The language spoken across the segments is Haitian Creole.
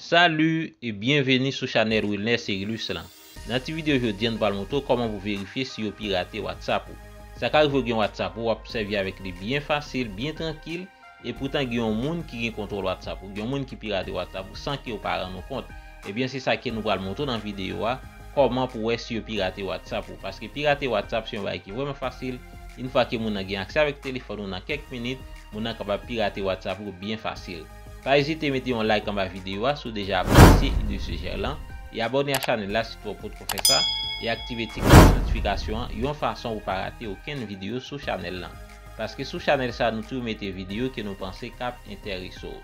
Salut e byenveni sou chanèl Wilner Cerilus lan. Nan ti video jodi an nou pral montre w kòman pou verifye si yo pirate WhatsApp ou. Sa ka rive w gen WhatsApp ou wap sèvi avèk li byen fasil, byen trankil, Epoutan gen yon moun ki gen kontwòl WhatsApp ou, gen yon moun ki pirate WhatsApp ou san kew pa rann ou kont. Ebyen se sa ke nou pral montre w nan videyo a, kòman pou wè si yo pirate WhatsApp ou. Paske pirate WhatsApp se yon bagay ki vrèman fasil, yn fwa ke moun nan gen aksè avèk telefòn ou nan kèk minit, moun nan kapab pirate WhatsApp ou byen fasil. Pa ezite mete yon like anba videyo a si w deja apresye ide sejèr lan, e abòne a chanèl la si tou ou potko fè sa, e aktive ti klòch notifikasyon an yon fason pou pa rate okenn videyo sou chanèl lan. Paske sou chanèl sa nou toujou mete video ke nou panse kap entèrese w.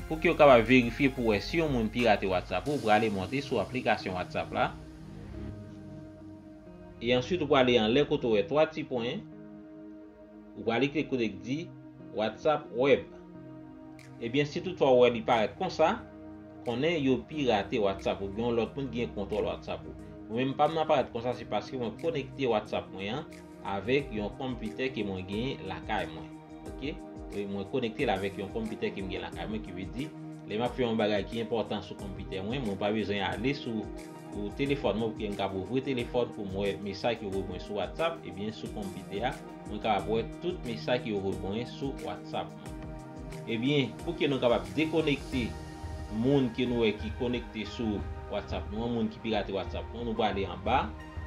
Pou kew kapab verifye pou wè si yon moun pirate WhatsApp ou prale monte sou aplikasyon WhatsApp la. E answit ou prale anlè kote ou wè 3 ti pwen. Ou prale klik kote k di WhatsApp web. Ebyen si tout fwa ou wè li parèt konsa, konnen yo pirate WhatsApp ou byen yon lòt moun gen kontwòl WhatsApp ou. Mwen menm pam nan parèt konsa se paske mwen konekte WhatsApp mwen an. Avèk yon computer ke mwen genyen lakay mwen. Ok. Wi mwen konekte l avèk yon computer ke m gen lakay mwen ki vle di lè map fè yon bagay ki enpòtan sou computer mwen, mwen pa bezwen ale sou ou telefòn mwen pouki m kab ouvri telefòn pou m wè mesaj ki voye pou mwen sou WhatsApp ebyen sou computer a mwen kapab wè tout mesaj ki yo voye pou mwen sou WhatsApp mwen. Ebyen pouki nou kapab dekonekte moun ke nou wè ki konekte sou WhatsApp nou an moun ki pirate WhatsApp nou an nou prale anba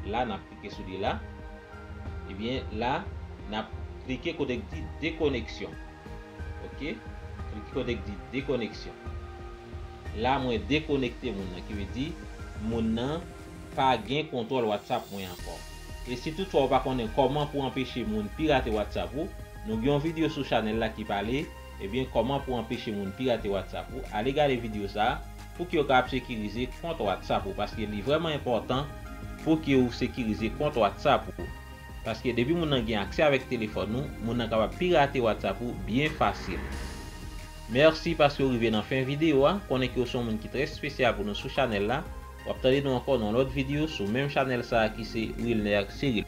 la nap. klike sou li la, ebyen la nap klike kote k di dekoneksyon ok klike kote k di dekoneksyon la mwen dekonekte moun nan ki vle di moun nan pa gen kontwòl whatsapp mwen ankò e si tout fwa ou pa konnen kòman pou anpeche moun pirate whatsapp ou nou gen yon video sou chanèl la ki pale Ebyen kòman pou anpeche moun pirate WhatsApp ou ale gade video sa pouki yo ka ap sekirize kont WhatsApp ou paske li vrèman enpòtan pouki ou sekirize kont WhatsApp ou paske depi moun nan gen aksè avèk telefòn ou moun nan kapab pirate WhatsApp ou byen fasil Merci paske ou rive nan fen video a konnen ke ou son moun ki trè spesyal pou nou sou chanèl la wap tande nou ankò nan lòt video sou menm chanèl sa ki se Wilner Cyril.